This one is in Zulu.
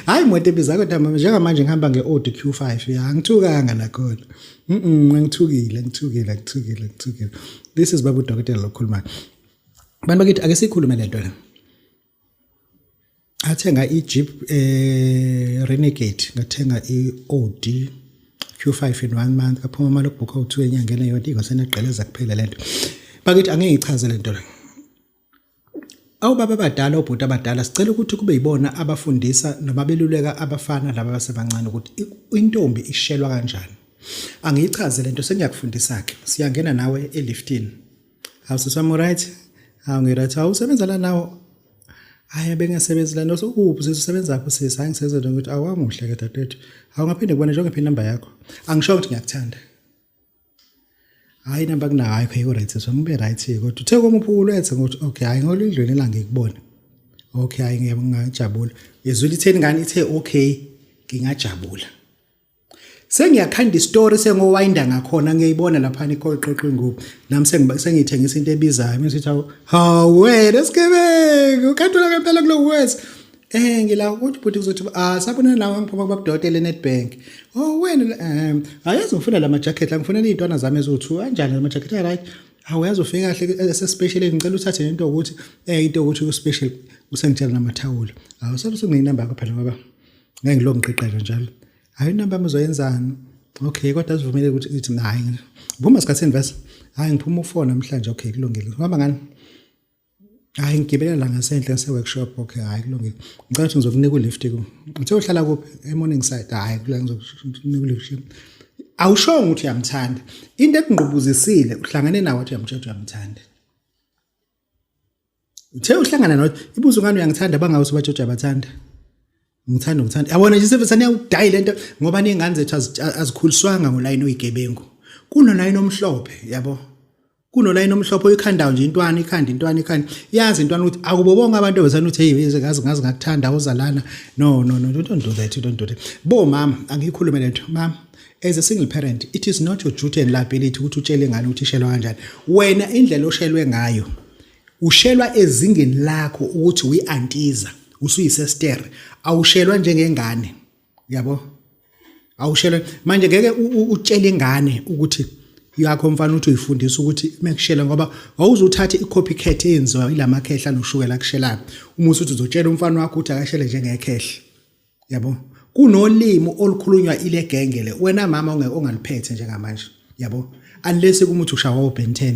hayi moto ebiza kodwa mama njengamanje ngihamba nge-audi q5 ya ngithukanga nakhona mm ngithukile ngithukile ngithukile ngithukile this is babu dokotela lokhulumayo abantu bakithi ake sikhulume le nto la athenga i-jeep eh renegade ngathenga i-audi q5 in one month kaphuma imali okubhukha u-two enyangeni eyodwa ingasenegqeleza kuphela le nto bakithi angeke ngichaze le nto la Awu baba abadala obhuti abadala sicela ukuthi kube yibona abafundisa noma beluleka abafana laba abasebancane ukuthi intombi ishelwa kanjani. Angiyichaze lento sengiyakufundisa ke. Siyangena nawe eliftini. Awu sisami right? Awu ngiright. Awu usebenza la nawo. Hayi bengasebenzi la noso ukuphi sisi usebenza lapho sisi hayi ngisenze nje ukuthi awamuhle ke dadethu. Awu ngaphinde kubona njengoba phi number yakho. Angisho ukuthi ngiyakuthanda. hayi namba kunayo hayi khayiko right sisi wami ube right kodwa uthe koma uphukulu ethe ngokuthi okay hayi ngolindlweni la ngikubona okay hayi ngiyabangajabula yezwile itheni ngani ithe okay ngingajabula sengiyakhanda istory sengowayinda ngakhona ngiyayibona lapha ikhoqoqo ingubo nami sengithengisa into ebizayo mesithi hawu wena sigebengu kanti ulakempela kulo wes Eh ngila ukuthi bhuti kuzothi ah sabona nawe ngiphuma kubabudokotela eNetbank. Oh wena eh ayazi ngifuna lama jacket la ngifuna izintwana zami eziwu2 kanjani lama jacket ay right. Awu yazi ufike kahle ese special ngicela uthathe into ukuthi eh into ukuthi u special usengitshela namathawula. Awu saluthi nginamba yakho phela ngoba ngeke ngilo ngiqeqela njalo. Hayi inamba yami uzoyenzani? Okay kodwa sivumele ukuthi ithi hayi. Vuma sikhathini vese. Hayi ngiphuma ufona namhlanje okay kulungile. Uhamba ngani? hayi ngigibelela ngasenhle ngise-workshop okay hhayi kulungile ngicela ukuthi ngizokunika ulift uthe uhlala kuphi e-morning side hhayi kula ngizokunika ulift awushongo ukuthi uyamthanda into ekungqubuzisile uhlangane nawo athi uyamtshela ukuthi uyamthanda uthe uhlangana nawo ibuzo ngani uyangithanda bangawe usubatshotsha abathanda Ngithanda ngithanda. Yabona nje sebe saniyawudayi lento ngoba ningane zethu azikhuliswanga ngolayini oyigebengu. Kunolayini omhlophe yabo. Kunolayini omhlophe oyikhandayo nje intwana ikhanda intwana ikhanda. Yazi intwana ukuthi akubo bonke abantu besana uthi hey ngazi ngazi ngakuthanda uzalana. No no no don't do that don't do that. Bo mama angiyikhulume lento mama as a single parent it is not your duty and liability ukuthi utshele ngane ukuthi ishelwa kanjani. Wena indlela oshelwe ngayo Ushelwa ezingeni lakho ukuthi uyiantiza, usuyisester, awushelwa njengengane. Yabo? Awushelwa manje ngeke utshele ingane ukuthi yakho mfana uthi uyifundisa ukuthi mekushela ngoba wawuzothatha i-copycat eyenziwa ilama khehla noshukela kushelayo uma usuthi uzotshela umfana wakho ukuthi akashele njengekhehla yabo kunolimi olukhulunywa ile genge le wena mama ongaliphethe njengamanje yabo unless kumuthi ushawa uBen 10